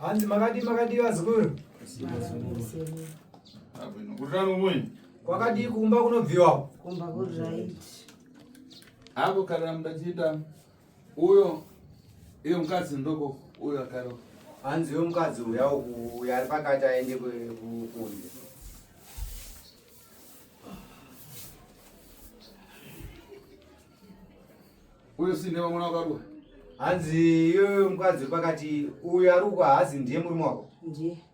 hanzi makadi makadi vazukuru kwakadii kumba kunobviwa apo kana mudachiita Uyo iyo mukadzi ndoko uyo akaro. Hanzi uyo mukadzi uya uya ari pakati aende kunze. Uyo sine vamwe vakarwa. Hanzi iyo mukadzi pakati uyo ari uko hazi ndiye murume wako. Ndiye.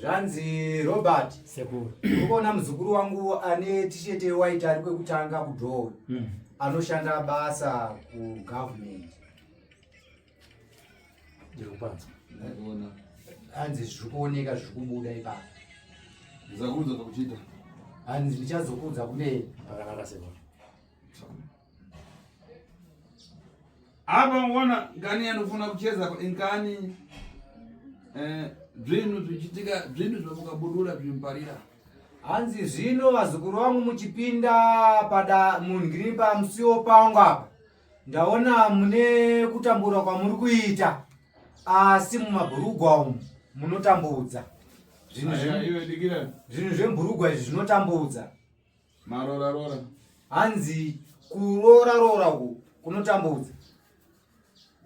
zvanzi robert sekuru ukuona muzukuru wangu ane tishete waita ari kwekutanga kudhoo mm. anoshanda basa kugovernment ndikupanza ndaiona hanzi zviri kuoneka zviri kubuda ipapo ndizakuudza zvakuchiita hanzi ndichazokuudza kumberi pakanaka sekuru Hapa unaona ngani anofuna kucheza ngani eh zvinhu zvichitika zvinhu zvamukabudura zvimparira hanzi zvino vazukuru vangu muchipinda pada mungiri pamusiwo pangu apa ndaona mune kutambura kwamuri kuita asi mumabhurugwa umu munotambudza zvinhu zvemburugwa izvi zvinotambudza Marora rora. Hanzi kurora rora uku kunotambudza.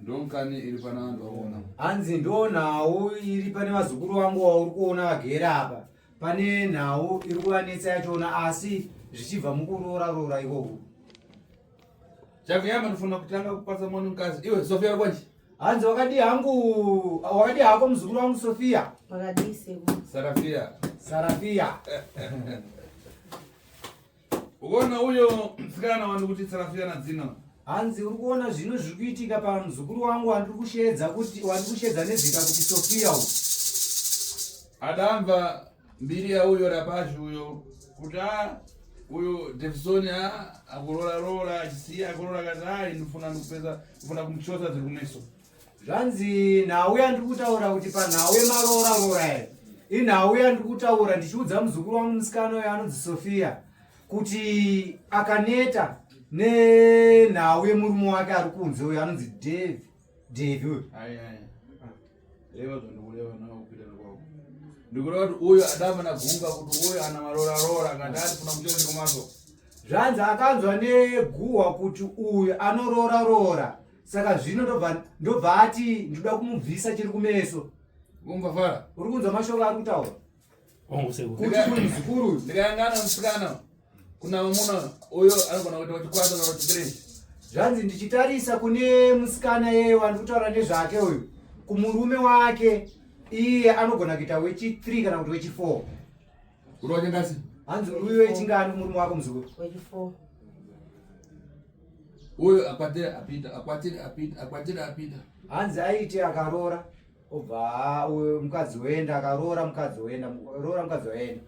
Ndonkani iri pana vanhu vaona. Hanzi ndonhawu iri pane vazukuru vangu wauri kuona vagera apa. Pane nhawu iri kuvanetsa yachona asi zvichibva mukurora rora ikoko. Chakuyamba ndofuna kutanga kupasa mwana mukadzi. Iwe Sofia uri kwanje? Hanzi wakadi hangu wakadi hako muzukuru wangu Sofia. Wakadi sebo. Sarafia. Sarafia. Uona huyo msikana wani kuti Sarafia na dzina. Hanzi uri kuona zvino zviri kuitika pa muzukuru wangu wandiri kusheedza kuti wandiri kusheedza nezita kuti Sofia uyu. Adamva Mbiri yauyo rapashi uyo kuti a uyo Davison a akurora rora achisiya akurora kati a ndifuna ndikupedza ndifuna kumuchosa dziri kumeso. Zvanzi nhau yandiri kutaura kuti panhau yemarora rora ere inhau yandiri kutaura ndichiudza muzukuru wangu musikana uyo anonzi Sofia kuti akaneta nenhau yemurume wake ari kunze uyo anonzi Dave. Devi uyo. Ayi ayi. Reva zvandikureva nawo kupitana kwako. Ndikureva kuti uyo adama na gunga kuti uyo ana marora rora ngati ari kuna muchonzi kumaso. Zvanzi akanzwa neguhwa kuti uyo anorora rora. Saka zvino ndobva ndobva ati ndoda kumubvisa chiri kumeso. Kumva fara. Uri kunzwa mashoko ari kutaura? kutimuzukuru ndikayangana musikana kuna vamuna uyo anogona kuita kuchikwasa kana kuti three zvanzi ndichitarisa kune musikana yeye wandi kutaura nezvake uyu kumurume wake iye anogona kuita wechi three kana kuti wechi four unochengasi hanzi uyu wechingani kumurume wako muzukuru wechi four uyo akwatira apita akwatira apita akwatira apita hanzi aite akaroora obva mukadzi woenda akaroora mukadzi woenda roora mukadzi waenda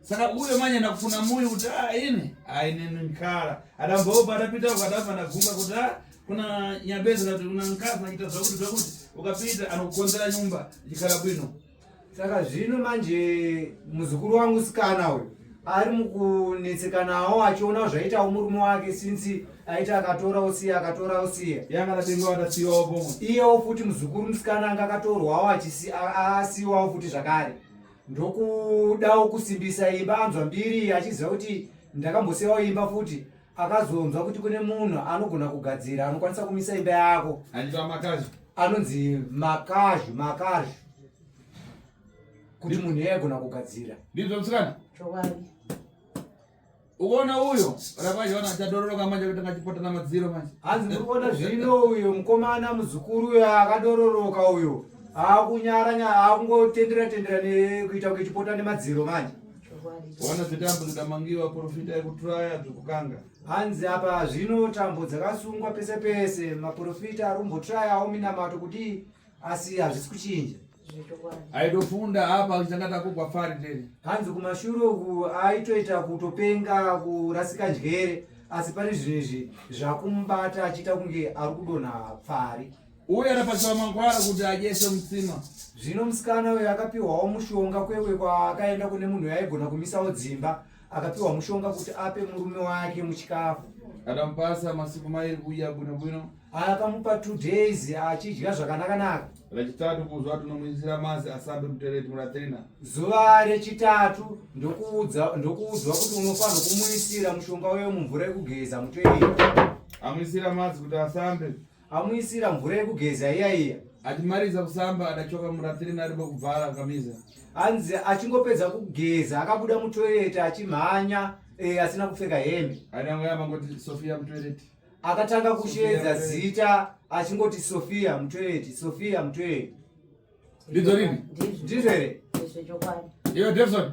saka uyo manyana kufuna muyo kuti a ah, ini ainini nkhala adambaopa adapita uko adabva ndagunga kuti a ah, kuna nyabeza kati kuna nkhala zvakuti zvakuti ukapita anokukonzera nyumba ikhala bwino saka zvino manje muzukuru wangu sikana uyu ari mukunetsekanawo achiona zvaitawo murume wake since aiti akatora usiya akatora usiya iyewo futi muzukuru musikana anga akatorwawo asiwawo futi zvakare ndokudawo kusimbisa imba anzwa mbiri achiziva kuti ndakambosiyawo imba futi akazonzwa kuti kune munhu anogona kugadzira anokwanisa kumisa imba yako anonzi makazhu makazhu kuti munhu iye aigona kugadzira ndizvomsikana uona uyo rakwaona achadororoka manje kuti ngachipota namadziro manje hanzi ndikuona zvino uyo mukomana muzukuru uyo akadororoka uyo akunyara nyara akungotendera tendera nekuita kuti chipota nemadziro manje wana dzitambo dzikamangiwa porofita yekuturaya dzokukanga hanzi apa zvino tambo dzakasungwa pese pese maporofita arumboturayawo minamato kudii asi hazvisi kuchinja aitofunda apa achitanga takugwa pfari tene hanzi kumashure uku aitoita kutopenga kurasika njere asi pane zvinhu izvi zvakumubata achiita kunge ari kudonha pfari uye anapatiwa mangwara kuti adyese mutsima. Zvino musikana uyo akapiwawo mushonga kwewe kwaakaenda kune munhu yaigona kumisawo dzimba, akapiwa mushonga kuti ape murume wake muchikafu. Akamupasa masiku mairi kudya bwino bwino. Akamupa two days achidya zvakanakanaka. Rechitatu kuzwa tinomuisira mazi asambe mutereti muratrina. Zuva rechitatu ndokuudza ndokuudzwa kuti unofanirwa kumuisira mushonga uyo mumvura yekugeza mutoireti. Amuisira mazi kuti asambe. amuisira mvura yekugeza iya iya achimaliza kusamba adachoka muratireni ari kwekubvara akamiza hanzi achingopedza kugeza akabuda mutoireti achimhanya e, asina kupfeka hembe adangoyamangoti sofia mutoireti akatanga kusheedza zita achingoti sofia mutoireti sofia mutoireti ndidzo rini ndizvo here iyo devson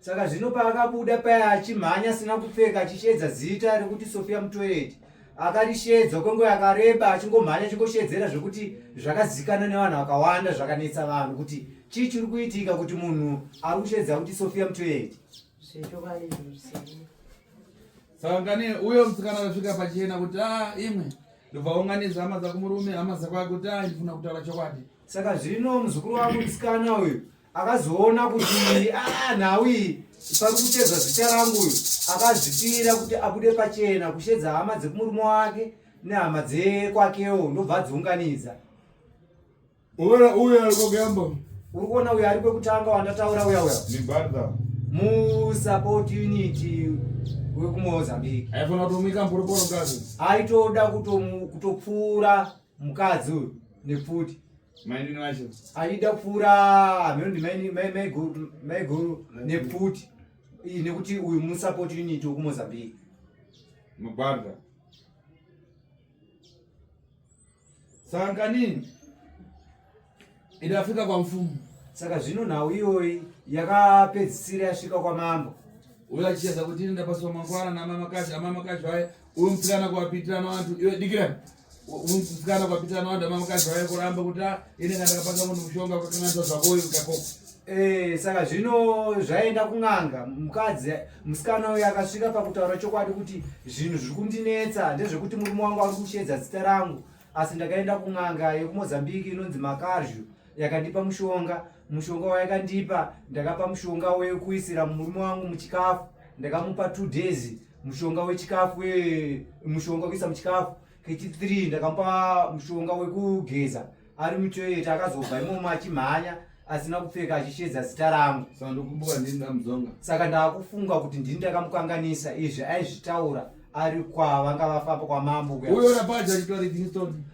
Saka zvino paakabuda paya achimhanya asina kupfeka achisheedza zita rekuti Sofia Mutoyeti akarisheedza kwenguva yakareba achingomhanya achingosheedzera zvekuti zvakazikana nevanhu vakawanda zvakanetsa vanhu kuti chii chiri kuitika kuti munhu ari kusheedza kuti Sofia Mutoyeti. Saka kani uyo musikana akasvika pachena kuti a imwe ndobva unganidza hama dzako murume hama dzako akuti a ndifuna kutaura chokwadi. Saka zvino muzukuru wangu musikana uyu akazoona kuti ah, nhau iyi pari kutedza zita rangu uyu akazvipira kuti abude pachena kushedza hama dzekumurume wake nehama dzekwakewo ndobva adziunganidza uyo arikogamba uri kuona uyo ari kwekutanga wandataura uya uya musupport unity wekumozambique aifana kutomika mporiporo mukadzi aitoda kutopfuura mukadzi uyu nepfuti Mainini vacho aida kupfuura mhendi maiguru nepfuti iyi nekuti uyu musupport unit wekumozambique magwarda sanganini idafika kwa mfumu saka zvino nhau iyoyi yakapedzisira yasvika kwamambo uyo achicheza kuti inenda paswa mangwana namamakashi amamakashi vaye uyo mtsikana kuvapitirana vantu iwe dikirani musikana kwapitana wanda mamukadzi vave kuramba kuti ah, ini kana ndakapanga munhu mushonga kwakananza zvako uyu kako eh, saka zvino zvaenda kun'anga mukadzi musikana uyu akasvika pakutaura chokwadi kuti zvinhu zviri kundinetsa ndezvekuti murume wangu ari kusheedza zita rangu asi ndakaenda kun'anga yekumozambiki inonzi makaryu yakandipa mushonga mushonga wayakandipa ndakapa mushonga wekuisira murume wangu muchikafu ndakamupa two days mushonga wechikafu mushonga wekuisa muchikafu kechi three ndakamupa mushonga wekugeza ari mutoilet akazobva imomo achimhanya asina kupfeka achishedza zita rangu saka ndakufunga kuti ndini ndakamukanganisa izvi aizvitaura ari kwa vanga vafamba kwamambo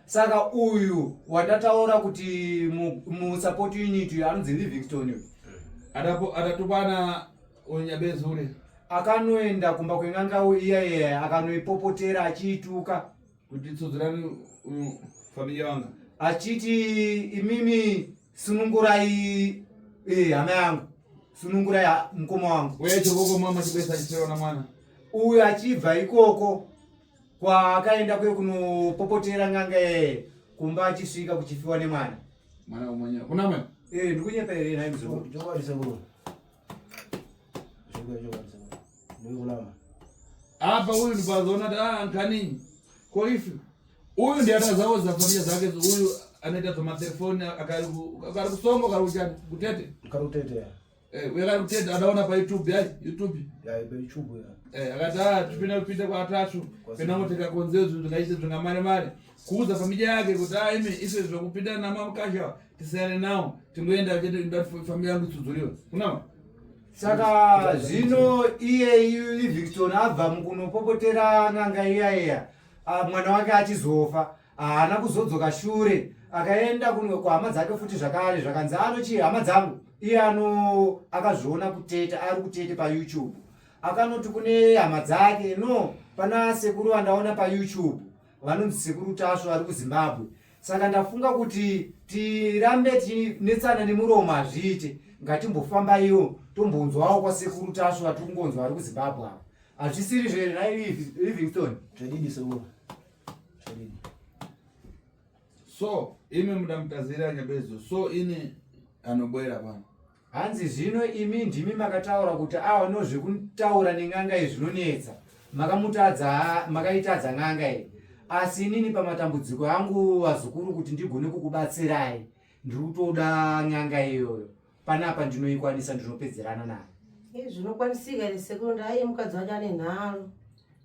saka uyu watataura kuti musupport unit uyu anonzi livingstone uyu eh. adatopana unyabezure akanoenda kumba kwengangawo iya iya akanoipopotera achiituka kuti tsudzurani familia wanga achiti imimi Sunungurai eh hama yangu. Sunungurai ah, mkoma wangu. Wewe chokoko mama chibesa chichewa na mwana. Uyu achibva ikoko kwa akaenda kwe kunopopotera nganga eh kumba achisvika kuchifiwa nemwana. Mwana umanya. Kuna mwana? Eh ndikunyepa here naye mzukuru. Joba risabura. apa uyu ndipazoona kuti ah, ankanini ko ifi uyu ndiye atazawo zafamia zake uyu anoita zvamatelefoni akari kusongo kari kuchani kutete kari kutete eh, uye kari kutete adaona payoutube yai youtube yai payoutube ya eh, akati a ah, tipinda kupinda kwatasvu pena kuti kakonzeo zvinhu zvingaite zvingamare mare kuudza familya yake kuti a ah, imi ise zvakupinda namamukasha tisere nawo tingoenda chete nda family yangu tsudzuriwa unawa saka zvino iyeyu livingstone abva mukunopopotera n'anga iya iya ah, mwana wake achizofa haana kuzodzoka shure akaenda kun- kuhama dzake futi zvakare zvakanzi anochi hama dzangu iye ano akazviona kuteta ari kutete payoutube akanoti kune hama dzake no pana sekuru vandaona payoutube vanonzi sekuru tasvu vari kuzimbabwe saka ndafunga kuti tirambe tinetsana nemuromo hazviite ngatimbofambaiwo tombonzwawo kwasekuru tasvu vatiri kungonzwa vari kuzimbabwe ava hazvisiri zvere nai livingston zvadidi sekuru zvadidi so imi muda mutazira nyabezo so ini anobwera pano Hanzi zvino imi ndimi makataura kuti aonewo zvekutaura nen'anga iyi zvinonetsa. Makamutadza, makaitadza n'anga iyi. Asi inini pamatambudziko angu vazukuru kuti ndigone kukubatsirai, ndiri kutoda n'anga iyoyo. Panapa ndinoikwanisa ndinopedzerana nayo. Izvi zvinokwanisika here sekuru ndaiye mukadzi wacho ane nharo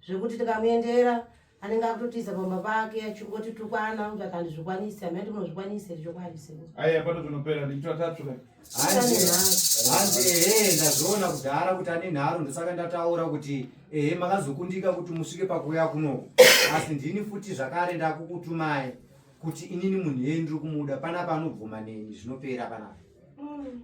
zvekuti tikamuendera anenge akutotiza pamba pake achingoti tukwana kuti akandizvikwanisi amai kuti munozvikwanisi here chokwadi seko aiya pato tinopera ndichitira tatsvuka hanzi ehe ndazviona kudhara kuti ane nharo ndosaka ndataura kuti ehe makazokundika kuti musvike pakuuya kunoku asi ndini futi zvakare ndakukutumai kuti inini munhu yei ndiri kumuda panapa anobvuma neni zvinopera panapa mm.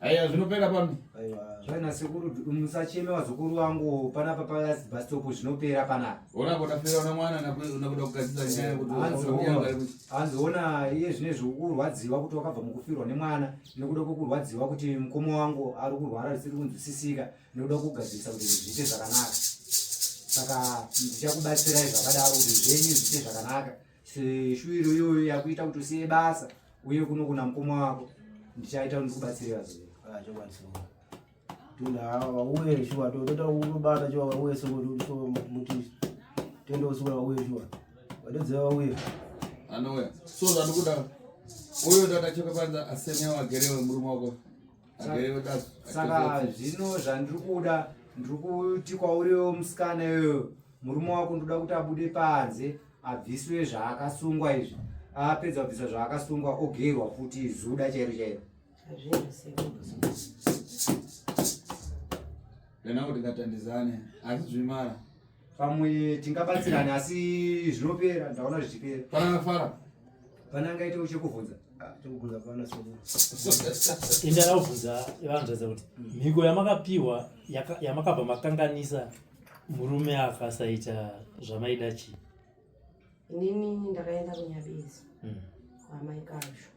Aya zvinopera pano. Aiwa. Zvaina sekuru musacheme wazukuru wangu panapa pa last bus stop zvinopera panapa. Ona kuda fera na mwana na kuda kugadzira nyaya kuti anzoona iye zvine zvokurwadziwa kuti wakabva mukufirwa nemwana nekuda kwokurwadziwa kuti mukoma wangu ari kurwara zvisiri kunzwisisika nekuda kugadzirisa kuti zviite zvakanaka. Saka ndichakubatsirai zvakadaro kuti zvenyu zviite zvakanaka. seshuviro iyoyo yakuita kuti usiye basa uye kuno kuna mukoma wako ndichaita ndikubatsirira zve ah, tinaava vauye shuwa totoda kunobata shuwa vauye somuti tende usukura vauye shuwa vadodzeva vauye anouya so zvatikuda uyo ndatachoka panza asenewa agere wemurume wako saka zvino zvandiri kuda ndiri kuti kwauriwo musikana iyoyo murume wako ndoda kuti abude panze abviswe zvaakasungwa izvi apedza kubvisa zvaakasungwa ogerwa futi zuda chairo chairo kana kuti ngatandizane asi zvimara pamwe tingabatsirane asi zvinopera ndaona zvichipera pana ngafara pana angaite uchekubvunza inda raubvunza ivanzvadza kuti mhiko yamakapiwa yamakabva makanganisa murume afa asaita zvamaida chii inini ndakaenda kunyabezi mm. kwaamai kazvo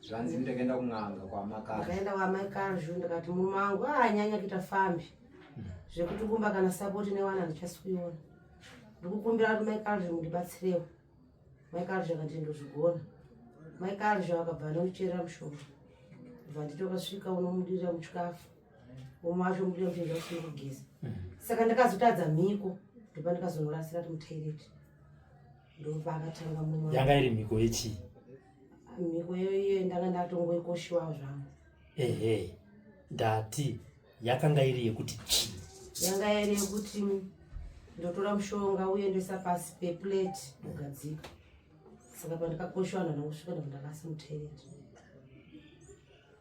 zvanzi ndakaenda kun'anga kwamakazvakaenda kwaamai kazvo ndikati murume wangu aanyanya ah, kuita fambi mm. zvekuti kumba kana sapoti newana handichasi kuiona ndikukumbira kuti mai kazvo mundibatsirewo mai kazvo akati ndozvigona mai kazvo akabva anondicherera mushonga bva nditokasvika unomudirira muchikafu home wacho muda kuti ndausina kugeza saka ndakazotadza mhiko ndopa ndikazonorasira ti mutoireti ndopa akatanga mumwe yanga iri mhiko yechii mhiko iyoiyo ndanga ndatongoikoshiwa zvangu ehe ndati yakanga iri yekuti chii yanga iri yekuti ndotora mushonga uye ndoisa pasi peplate ndogadzika saka pandikakoshiwa ndanakusvika ndakundakasi mutoireti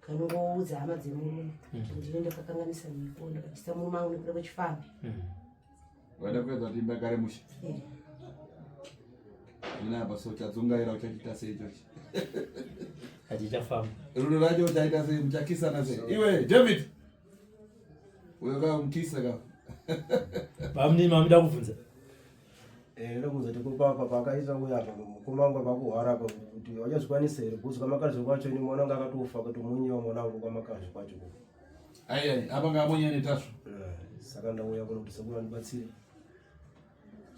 kanongoudza hama dzemurume mm. kuti ndine ndakakanganisa mhiko ndakabvisa murume angu nekuda kwechifambi mm. waida kuedza kuti imba kare mushe eh. zvinapa so chadzungaira uchachiita sei ichochi hatichafamba rudo racho uchaita sei muchakisana sei iwe david uyo kaa mukisa ka pamnini mamida kubvunza Eh, ndokuza tikupapa pakaita uya apa kumangwa pakuhwara apa kuti wachazvikwanisa here kuzi kwamakazvi kwacho ini mwana wanga akatofa kuti munyewa mwana wangu kwamakazvi kwacho kuko ayi apa ngamonye netasvo eh, saka ndauya kuno kuti sekuru andibatsire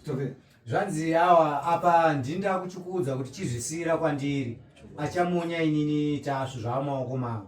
tove zvanzi awa apa ndini ndakuchikuudza kuti chizvisiyira kwandiri achamonya inini tasvo zvaamaoko mavo